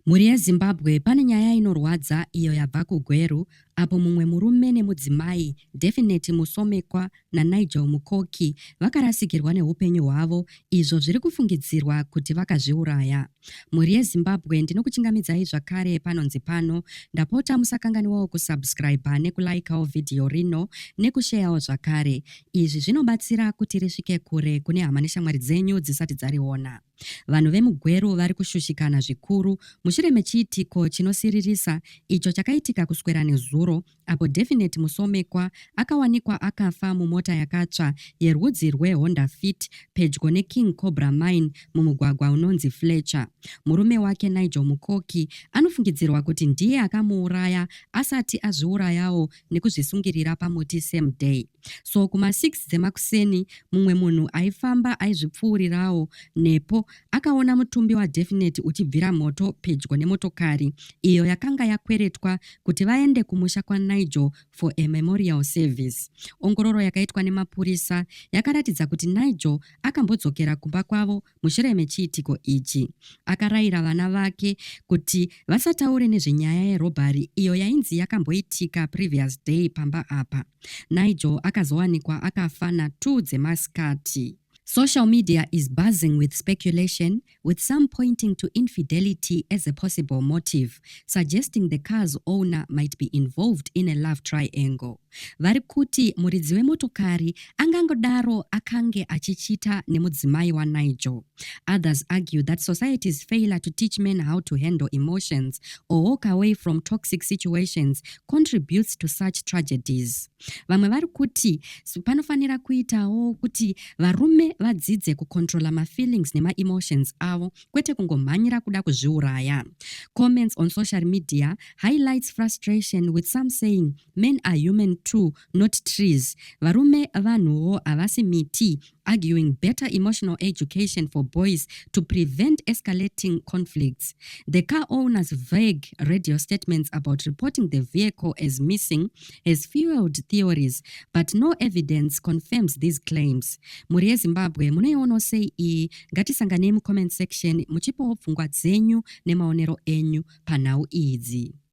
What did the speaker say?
Mhuri yeZimbabwe pane nyaya inorwadza iyo yabva kuGweru apo mumwe murume nemudzimai, Definite Musomekwa naNigel Mukoki, vakarasikirwa nehupenyu hwavo izvo zviri kufungidzirwa kuti vakazviuraya. Mhuri yeZimbabwe ndinokuchingamidzai zvakare panonzi pano, ndapota musakanganiwawo kusubscriber nekulikawo vhidhiyo rino nekusheyawo zvakare. Izvi zvinobatsira kuti risvike kure kune hama neshamwari dzenyu dzisati dzariona. Vanhu vemuGweru vari kushushikana zvikuru mushure mechiitiko chinosiririsa icho chakaitika kuswera nezuro apo Definite Musomekwa akawanikwa akafa mumota yakatsva yerwudzi rweHonda Fit pedyo neKing Cobra Mine mumugwagwa unonzi Fletcher. Murume wake Nigel Mukoki anofungidzirwa kuti ndiye akamuuraya asati azviurayawo nekuzvisungirira pamuti same day so kuma 6 dzemakuseni mumwe munhu aifamba aizvipfuurirawo nepo akaona mutumbi wadefinite uchibvira moto pedyo nemotokari iyo yakanga yakweretwa kuti vaende kumusha kwanigel for a memorial service ongororo yakaitwa nemapurisa yakaratidza kuti nigel akambodzokera kumba kwavo Mushure mechiitiko ichi, akarayira vana vake kuti vasataure nezvenyaya yerobhari iyo yainzi yakamboitika previous day pamba apa. Nigel akazowanikwa akafa na 2 dzemasikati. Social media is buzzing with speculation, with some pointing to infidelity as a possible motive, suggesting the car's owner might be involved in a love triangle. vari kuti muridzi wemotokari angangodaro akange achichita nemudzimai wanigel others argue that society's failure to teach men how to handle emotions or walk away from toxic situations contributes to such tragedies vamwe vari kuti panofanira kuitawo kuti varume vadzidze kucontrola mafeelings nemaemotions avo kwete kungomhanyira kuda kuzviuraya comments on social media highlights frustration with some saying Men are human too not trees. Varume vanhuwo havasi miti. Arguing better emotional education for boys to prevent escalating conflicts. The car owner's vague radio statements about reporting the vehicle as missing has fueled theories but no evidence confirms these claims. Mhuri yeZimbabwe munoiona sei iyi? Ngatisanganei mucomment section muchipawo pfungwa dzenyu nemaonero enyu panhau idzi.